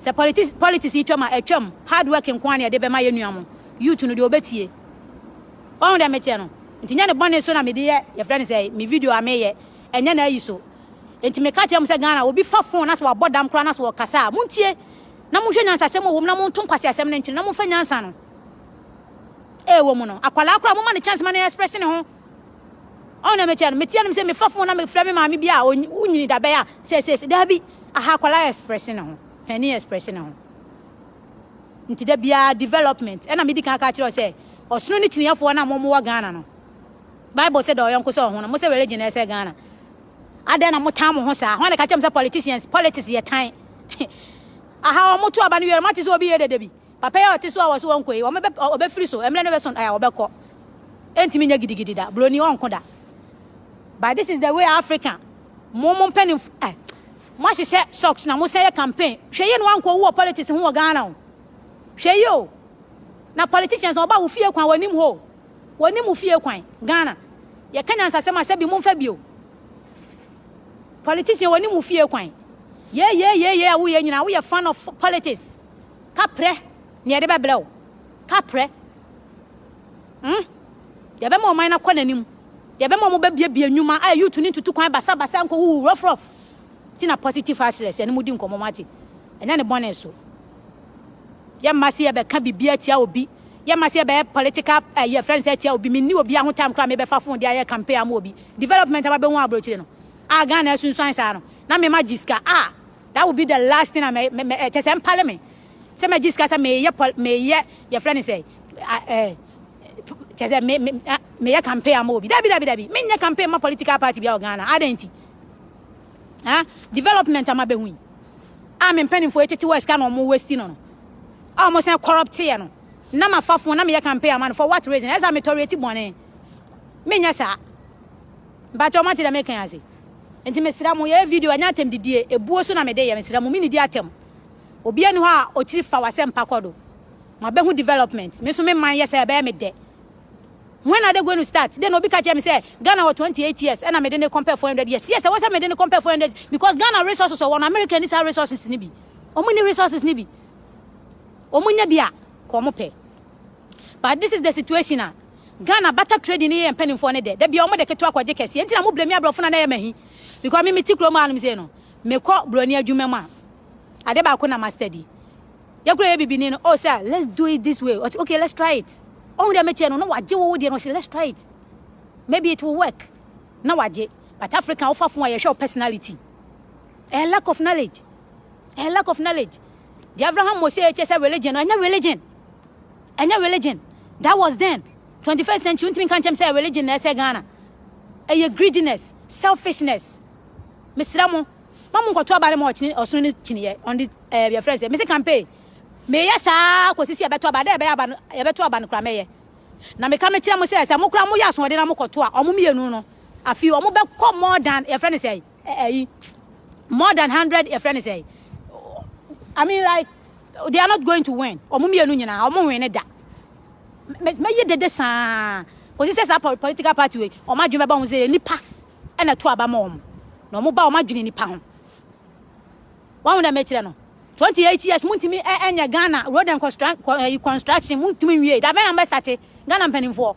Sɛ politics politics yi twam a ɛtwam hard work nko ara na yɛde bɛma yɛn nua mo youth no deɛ ɔbɛtie. Wahu deɛ mekyerɛ no? Nti nyɛ ne bɔne so na mede yɛ yɛfrɛ no sɛ me video a meyɛ ɛnyɛ n'ayi so. Nti meka kyerɛ mo sɛ Ghana obi fa phone na sɛ wabɔ dam koraa na sɛ ɔkasa a montie na monhwɛ nyansasɛm a ɛwɔ mu na monto nkwaseasɛm no ntwene na momfa nyansa no a ɛwɔ mu no akwadaa koraa momma no chance ma no express ne ho Ɔn na meteɛ no, meteɛ no, mesɛ mefa fon na mefrɛ me maame bi a onyini da bɛyɛ a sɛ sɛ sɛ daabi aha akwadaa yɛ express ne ho, panin yɛ express ne ho. Nti da biara development ɛna medi kan ka kyerɛ sɛ ɔsono ne kyiniafoɔ na mo wɔ Ghana no. Bible sɛ dɔ ɔyɔnko sɛ ɔho no, mo sɛ religion na ɛsɛ Ghana. Adɛn na mo tan mo ho saa? Hɔn na ka kyerɛ mo sɛ politicians, politics yɛ tan. Aha wɔn to aba no wie no, mo ate sɛ obi yɛ dede bi? Papa yi a ɔte so a wɔse wɔnkɔ yi, wɔbɛ, ɔbɛfiri so, mmerɛ no bɛso a wɔbɛkɔ. Ɛntumi nyɛ gidigidi da, buroni ɔnko da. But this is the way Africa, mo mo mpanin, eh, mo ahyehyɛ socks na mo sɛ yɛ campaign. Hwɛ yie na wankɔ wu wɔ politics ho wɔ Ghana o. Hwɛ yie o. Na politicians na ɔba wo fie kwan wɔnim hɔ o. Wɔnim wo fie kwan, Ghana. Yɛka nyansasɛm a sɛ bi momfa bi o. Politician wɔnim wo fie kwan. Yee yee yee yee a woyɛ nyinaa woyɛ fan of politics. Ka prɛ nea yɛde bɛbrɛ wo. Ka prɛ. Hmm. Deɛ ɛbɛma ɔman no akɔ n'anim. Deɛ ɛbɛma wɔn bɛbiebie nnwuma a youth no ntutu kwan basabasa nkɔ wuwu rɔfrɔf. Ti na positive hustlers yɛne mu di nkɔmmɔ mo ate. Ɛnyɛ ne bɔne so. Yɛmma se yɛbɛka biribi atia obi. Yɛmma se yɛbɛyɛ political ɛyi eh, friends atia obi. Menni obi aho time koraa mebɛfa phone de ayɛ campaign ama obi. Development a mabɛhu abrokyire no. A Ghana asunsuan saa no. Na mema gye sika. Ah! That will be the last thing a mɛ mɛ mɛ kyɛ sɛ mpale me sɛ mɛ gye sika sɛ meyɛ pɔl meyɛ yɛfrɛ ne sɛ ɛɛ kyɛ sɛ me me meyɛ campaign ama obi dabi dabi dabi menyɛ campaign ma political party bi a wɔ Ghana adɛn nti ah development ama bɛhu yi a me mpanimfoɔ etete wɔ sika na wɔn westi no no a wɔn sɛn corrupt yɛ no na ma fa fon na meyɛ campaign ama no for what reason ɛsɛ a metɔre eti bɔnee menyɛ saa mpatwa wɔn ate dɛ meka ase. Nti mesrɛ mo yɛyɛ video ɛnyɛ atɛm didie ebuo so na mede yɛ mesrɛ mo menidi atɛm obia ni hɔ a ɔkyiri fa wasɛmpa kɔdo moabɛhu development me nso me man yɛ sɛ ɛbɛyɛ me dɛ when are they going to start then obi ka kyerɛ me sɛ Ghana wɔ 28 years ɛna mede ne compare 400 years yes ɛwɔ sɛ mede ne compare 400 because Ghana resources ɔwɔ no America ni saa resources ni bi ɔmo ni resources ni bi ɔmo nya bi a kɔ ɔmo pɛ But this is the situation a Ghana bata trading ne yɛ mpanimfoɔ ne dɛ. Da bia wɔn de ketewa kɔgye kɛse. Enti na mo blame aborɔfo na na yɛ mahi. Because me me ti kurom anom sei no. Me kɔ broni adwuma mu a. Ade baako na ma steady. Yɛ kura yɛ bibini no. Oh sir, let's do it this way. Ɔsi okay, let's try it. Ɔhu dɛ mekyɛ no na wagye wo wo deɛ no ɔsi let's try it. Maybe it will work. Na wagye. But African wofa fun a yɛhwɛ wo personality. A lack of knowledge. A lack of knowledge. Deɛ Abraham wɔ sɛ ɛkyɛ sɛ religion no, ɛnyɛ religion. Ɛnyɛ religion. That was then. 21st century, ntumi nka nkyɛm sɛ religion na ɛsɛ Ghana. Ɛyɛ greediness, selfishness. Mesrɛ mo, ma mo nkɔto aba no ma ɔkyene ɔsono no kyiniiɛ. On the, eh, your friend said, mese campaign. Meyɛ saa kɔsi sɛ yɛbɛto aba, dɛ ɛbɛyɛ aba no, yɛbɛto aba no kora mɛyɛ. Na meka mekyerɛ mo sɛ, sɛ mo kora moyɛ asoɔden na mokɔto a, ɔmo mmienu no, afei ɔmo bɛkɔ more than, yɛfrɛ no sɛ, ɛyi more than hundred yɛfrɛ ne sɛ i mean like they are not going to win ɔmo mmienu nyinaa ɔmo win ne da mɛyɛ dede saa kòsi sɛ saa political party wei ɔmo adwene bɛba ho sɛ yɛ nipa ɛna to aba ma ɔmo na ɔmo ba ɔmo adwene nipa ho wɔn ho na mɛkyerɛ no twenty eight years mo ntumi ɛnyɛ ghana road and construction mo ntumi nwie dabɛn na mɛsate ghana mpanimfoɔ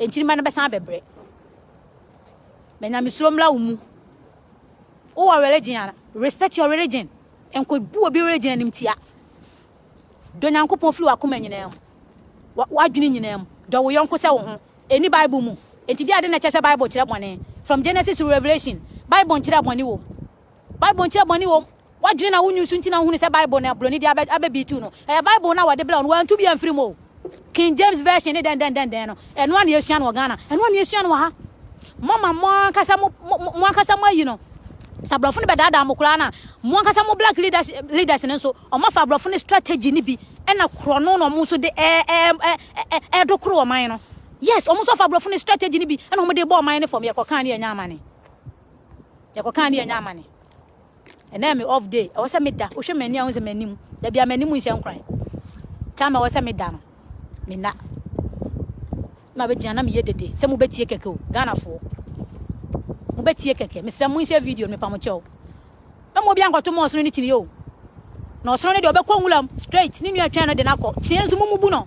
Nkyirimma no bɛsan abɛbrɛ. Bɛ nyamesuro mmra wo mu. Wowɔ religion a, respect your religion. Nkɔbu obi religion animtia. Dɔ Nyankopɔn firi w'akoma nyinaa mu, w'adwene nyinaa mu. Dɔ wo yɔnko sɛ wo ho. Ɛnni Bible mu. Enti deɛ adɛn na ɛkyerɛ sɛ Bible kyerɛ bɔne? From Genesis to Revelation, Bible nkyerɛɛ bɔne wom. Bible nkyerɛ bɔne wom. Wadwene na wonyu so nti na wohunu sɛ Bible na Buroni de abɛbiitiw no. Ɛyɛ Bible na wɔde brɛw no, wɔantu bi amfiri mu o. King James Version ne dɛndɛndɛndɛn no, ɛno a na yɛsua no wɔ Ghana, ɛno a na yɛsua no wɔ ha. Mama mo ankasa mo ankasa mo ayi no. Sɛ aborɔfo no bɛdaadaa mo koraa no a, mo ankasa mo black leaders leaders no nso, wɔafa aborɔfo no strategy no bi na korɔno na wɔn nso de ɛɛdo koro ɔman no. Yes, wɔn nso afa aborɔfo no strategy no bi na wɔn de bɔ ɔman no fam yɛkɔkaa ne yɛnya amane. yɛkɔkaa ne yɛnya amane ɛnɛ me off day ɛwɔ sɛ meda wohwɛ m'ani a wo sɛ m'anim da bia m'anim nhyɛ nkoran time ɛwɔ sɛ meda no mena na bɛgyina na meyɛ dede sɛ mobɛtie kɛkɛ o ghanafoɔ mobɛtie kɛkɛ mesrɛ mo nhyɛ video no mepa mo kyɛw ɛmu obi ankɔto mu ɔsono ne kyini o na ɔsono ne deɛ ɔbɛkɔ nwuram straight ne nua twɛn no de no akɔ kyiniɛ nso mumubu no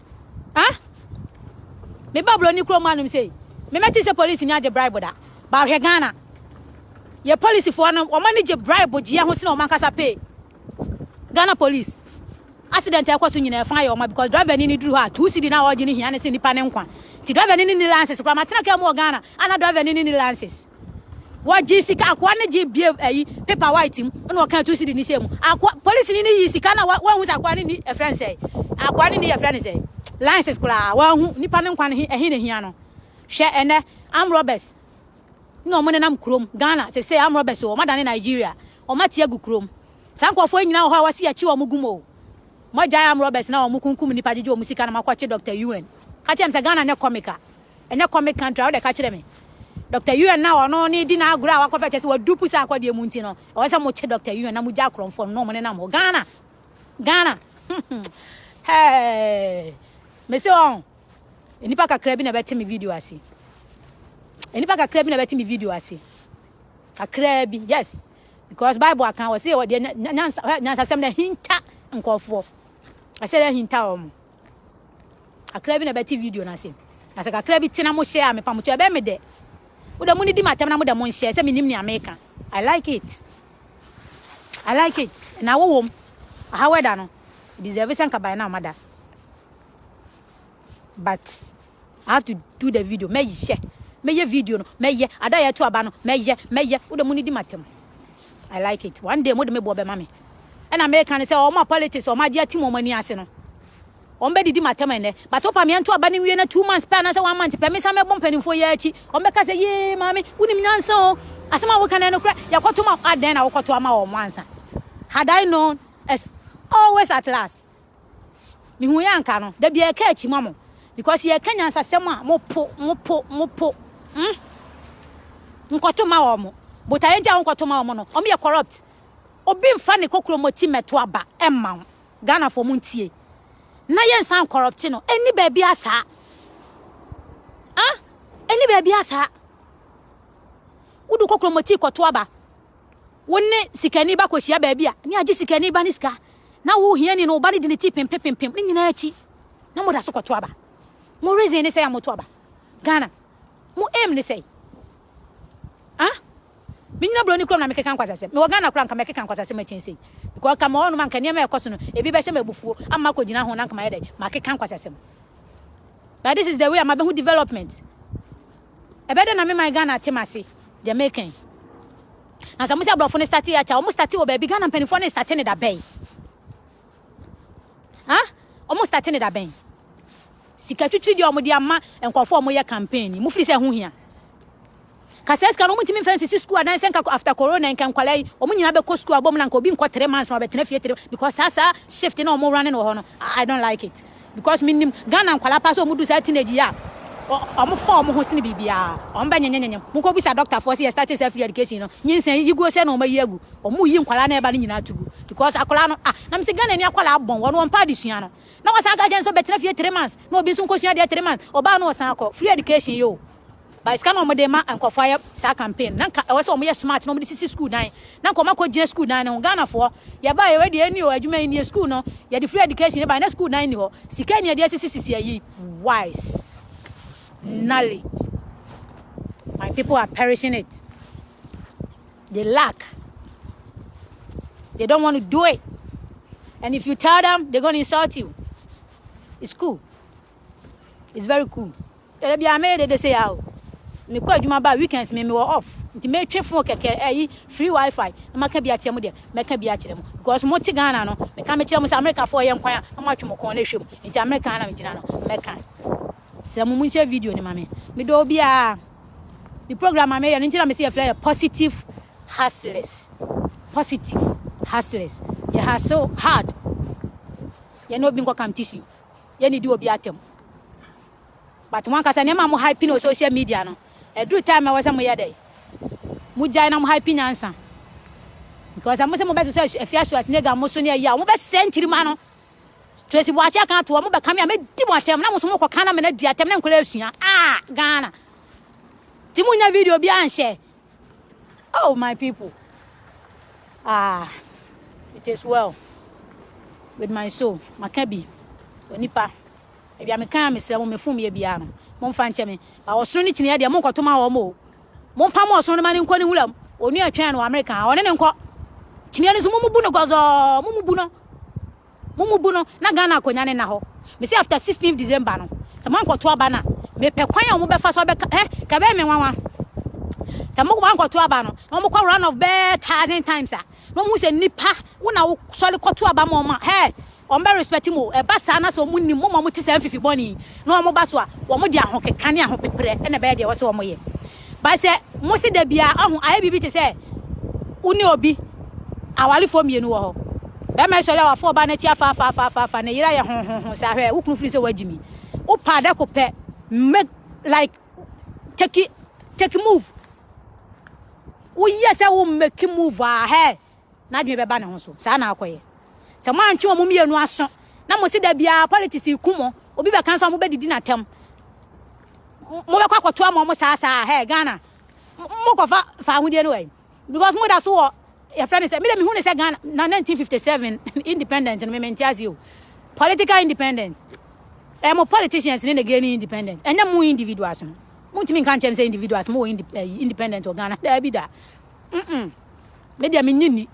Ha? Me ba Broni kurom anom sei. Me mɛte sɛ police ni agye bribe da. Ba hwɛ Ghana. Yɛ police foɔ no, wɔn ani gye bribe gyeɛ ho sene wɔn ankasa pay. Ghana police. Accident a ɛkɔ so nyinaa ɛfa yɛ wɔn because driver ni ni duru hɔ a two city na ɔgye ne hia ne se nipa ne nkwa. Ti driver ni ni ni lances kura ma tena kaa mu wɔ Ghana ana driver ni ni ni lances. Wɔgyee sika, akoa no gyee bie ayi paper white mu na ɔkaa two cedi no hyɛɛ mu. Akoa polisini no yii sika no a wanhu sɛ akoa no ni ɛfrɛ no sɛ akoa no ni ɛfrɛ no sɛ license koraa wanhu nipa no nkwa no ɛhe na hia no. Hwɛ ɛnɛ arm robbers na wɔn nenam kurom Ghana sese arm robbers wɔn adane Nigeria wɔn ate agu kurom. Saa nkurɔfoɔ nyinaa wɔ hɔ a wɔsi akyi wɔn gum o. Mo agyae arm robbers na wɔn kunkum nipa gyegye wɔn sika na mo akɔkye Dr. UN. Ka kyerɛ me sɛ Ghana nyɛ comic a. Ɛnyɛ comic country a wode ka kyerɛ me. Doctor Yuan a ɔno ne di n'agorɔ a wakɔfɛ kyɛ sɛ wadupu saa akɔdeɛ mu nti no ɛwɔ sɛ mokye Doctor Yuan na mogya akorɔmfoɔ no na ɔmo nenam hɔ Ghana Ghana hey mese wɔn nnipa kakra bi na ɛbɛte me video ase nnipa kakra bi na ɛbɛte me video ase kakra bi yes because Bible aka wɔ se wɔ deɛ nyansasɛm na hinta nkɔfoɔ ɛhyɛ dɛ hinta wɔn kakra bi na ɛbɛte video no ase na sɛ kakra bi tena mo hyɛ a mepa mo kyɛ ɛbɛn me dɛ wo dɛ mo ne di m'atɛm na mo dɛ mo nhyɛ sɛ menim nea meka i like it i like it na wo wom aha wɛda no deserve sɛ nka ban na ɔmada but I have to do the video. Me ye, me ye video no. Me ye. Ada ye to aba no. Me ye, me ye. Wo de muni di matem. I like it. One day mo de me bo be mami. And I make can say, oh my politics, oh my dear team, oh my ni ase no. Ombe didi matem ene. But opa me anto aba ni wie na two months pa na say one month pa me same bom panin for ye achi. Ombe ka say ye mami. Uni mi nyansa o. Asema wo kan eno kura. Ya koto ma aden na wo koto ama o mwansa. Had I known, as always at last. Mehuu yɛ anka no da bia ɛka akyi ma mo because yɛ ka nyansasɛm a mo po mo po mo po hmm nkɔto ma wɔn botaeɛ nti a wonkɔto ma wɔn no wɔn yɛ corrupt obi nfa ne kokromoti mɛto aba ɛmma wo Ghana fo mo ntie na yɛ nsan corrupt no ɛni baabi asaa ah ɛni baabi asaa wodu kokromoti kɔto aba Wo ne sikani ba kɔhyia baabi a, ne agye sikani ba ne sika, na wo hiani no, wo ba no di ne ti pempempempem, ne nyinaa akyi, na moda so kɔto aba. Mo reason ne sɛ a moto aba. Ghana, mo aim ne sɛ ah, menyina buroni kurom na mekeka nkwasasɛm. Mewɔ Ghana koraa nka mɛkeka nkwasasɛm akyɛn sei. Because nka mewɔ hɔnom a nka nneɛma a ɛkɔ so no, ebi bɛhyɛ me abufuo ama makɔgyina ho na nka mayɛ dɛn? Makeka nkwasasɛm. But this is the way a mabɛhu development. Ɛbɛyɛ dɛ na me man Ghana te m'ase, deɛ meka yi. Na sɛ mose aborɔfo no starte yɛ akyɛ, wɔn starte wɔ baabi, Ghana mpanimfoɔ no starte no da bɛn? Ha? Wɔn starte no da bɛn? Sika twitwi deɛ wɔn de ama nkurɔfoɔ wɔn yɛ campaign yi, mo firi sɛ ɛho hia. Kasɛ sika no wɔn ntumi nfa nsisi sukuu adan sɛ nka after corona nka nkwadaa yi wɔn nyinaa bɛkɔ sukuu abom na nka obi nkɔ three months na ɔbɛtena fie three because saa saa shift na wɔn run no wɔ hɔ no, I don't like it. because me nim Ghana nkwala pa so omu du saa teenage ya omu fa omu ho sini bibi ya omu bɛ nyenye nyenye mu ko bisa doctor fo si yɛ start sa free education no nyinsa yi guo sɛ na omu ayi agu omu yi nkwala na ɛba no nyina tugu because akwala no ah na misi Ghana ni akwala abon wɔn wɔn pa adesua no na wɔsan ka kyɛn sɛ bɛtena fie three months na obi nso nkosua deɛ three months obaa no ɔsan akɔ free education yo But sika na wɔn de ma nkurɔfoɔ ayɛ saa campaign na nka ɛwɔ sɛ wɔn yɛ smart na wɔn de sisi school dan na nka wɔn akɔ gyina school dan no ho Ghana foɔ yɛ ba yɛ wei deɛ ɛni o adwuma yi nie school no yɛ de free education ba na school dan ni hɔ sika ni yɛ de asisi sisi ayi wise knowledge my people are perishing it they lack they don't want to do it and if you tell them they're going to insult you it's cool. It's very cool. Ɛdɛ bia mɛyɛ dede sɛ ya o. Mekɔ adwuma ba weekends me mewɔ off. Nti metwe phone kɛkɛ ɛyi free wifi na maka bi akyerɛ mo deɛ mɛka bi akyerɛ mo because mo te Ghana no meka mekyerɛ mo sɛ America foɔ yɛ nkwan a na mo atwe mo kɔn na ɛhwɛ mu. Nti America na megyina no mɛka. Srɛ mo monhyɛ video no ma me. Medɔ obi a me program a meyɛ no nti na mesi yɛfrɛ yɛ positive hustlers. Positive hustlers. Yɛ hustle hard. Yɛ na obi nkɔ kam tissue. yɛ ne di obi atam but mo ankasa nneɛma a mo hype no wɔ social media no ɛduru time a ɛwɔ sɛ moyɛ dɛn mogyae na mo hype nyansa because mo sɛ mobɛsosɔ afia so asnega mo so ne ayi a mobɛsɛ nkyirima no Tracy Boakye aka ato hɔ mobɛka me a mɛdi mo atɛm na mo so mokɔka na mena di atɛm na nkɔla asua ah Ghana nti monya video bi anhyɛ Oh my people, ah, it is well with my soul. Maka bi, onipa. Ebi a meka a mesrɛ mo mefom yɛ biara no, momfa nkyɛ me. Ba ɔsono ne kyiniiɛ deɛ monkɔto ma wɔn o. Mompa mo ɔsono no ma ne nkɔ ne nwura mu. Onua twɛn no Amerika, ɔne ne nkɔ. Kyiniiɛ no nso momubu no gɔzɔɔ, momubu no. Mo mu bu no na Ghana akonya ne na hɔ. Me se after 16th December no sɛ mo ankɔto aba no a me pɛ kwan a wɔn bɛfa so abɛka eh ka bɛyɛ me nwanwa. Sɛ mo ankɔto aba no na wɔn kɔ run of bɛɛ thousand times a na wɔn hu sɛ nipa wo na wo sɔre kɔto aba ma wɔn a hɛ wɔn bɛ respect mo ɛba saa na sɛ wɔn nim mo ma wɔn te saa mfifi bɔne na wɔn ba so a wɔn de ahokeka ne ahopeprɛ ɛna bɛyɛ deɛ wɔsɛ wɔn yɛ. But sɛ mo se da biara ɔho ayɛ biribi te sɛ wo ne obi awarefoɔ mmienu wɔ hɔ. Bɛrima sɔre a wafa ɔbaa no akyi afaafaafaafa ne yere ayɛ hohoho saa hwɛ wo kunu firi sɛ wagyi mi. Wo paa da ko pɛ make like take take move. Woyɛ sɛ wo make move a hɛ n'adwene bɛba ne ho so saa na akɔyɛ sɛ mo antwe wɔn mmienu aso na mo si da biara politics ku mo obi bɛka nso a mo bɛdidi n'atɛm mo bɛkɔ akɔto ama wɔn saa saa hɛ Ghana mo kɔfa fa ahodeɛ no wɔ because mo da so wɔ yɛfrɛ ne sɛ mede mehu ne sɛ Ghana na 1957 independent no memente ase o political independent ɛyɛ mo politicians ne na gaining independent ɛnyɛ mo individuals no montumi nka nkyɛm sɛ individuals mo wɔ eh, independent wɔ Ghana daabi da mm me deɛ menye ni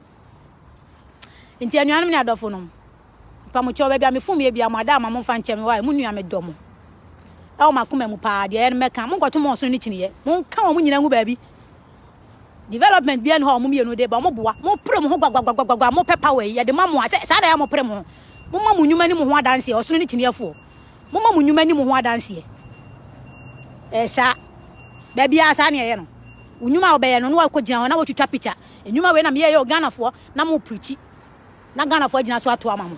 nti anuanom ne adɔfo nom mpamokyɛw baabi a mefom yɛ bia mo ada ama mo mfa nkyɛ me wae mo nua me dɔ mo ɛwɔ makoma mu paa deɛ ɛyɛ no mɛka mo nkɔto mo ɔsono ne kyiniiɛ mo nka wɔn mo nyina ngu baabi development bia ne hɔ a wɔn mmienu de ba wɔn boa mo pere mo ho gwagwagwagwagwa mo pɛ power yi yɛde ma mo a sɛ saa na yɛ mo pere mo ho mo ma mo nnwuma ne mo ho adanseɛ ɔsono ne kyiniiɛfoɔ moma mo nnwuma ni mo ho adanseɛ ɛɛ saa baabi a saa ne ɛyɛ no wo nnwuma a wɔbɛyɛ no na wakɔgyina hɔ na wɔtwitwa pikya nnwuma wei na meyɛyɛ o ghanafoɔ na mo pirikyi na ghanafoɔ agyina so ato ama mo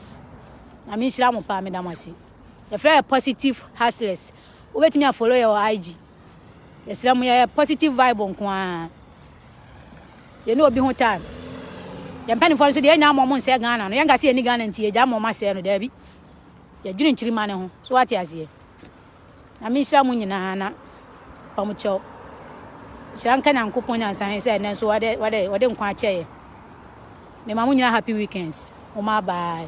na menhyira mo paa meda mo ase yɛfrɛ yɛ positive hustlers wobɛtumi afolo yɛ wɔ ig yɛsrɛ mo yɛyɛ positive vibe nko ara yɛne obi ho time yɛmpanifoɔ no so deɛ ɛnya mmɔ mo nsɛ ghana no yɛnka sɛ yɛni ghana nti yɛgya mmɔ mo asɛe no daabi Yɛdwene nkyirimma no ho. So wate aseɛ? Nyame nhyira mo nyinaa na wɔn kyɛw. Nhyira nka Nyankopɔn nyansa he sɛ ɛnɛ nso wɔde, wɔde, wɔde nkwa akyɛ yɛ. Mema mo nyinaa happy weekends. Moma bye.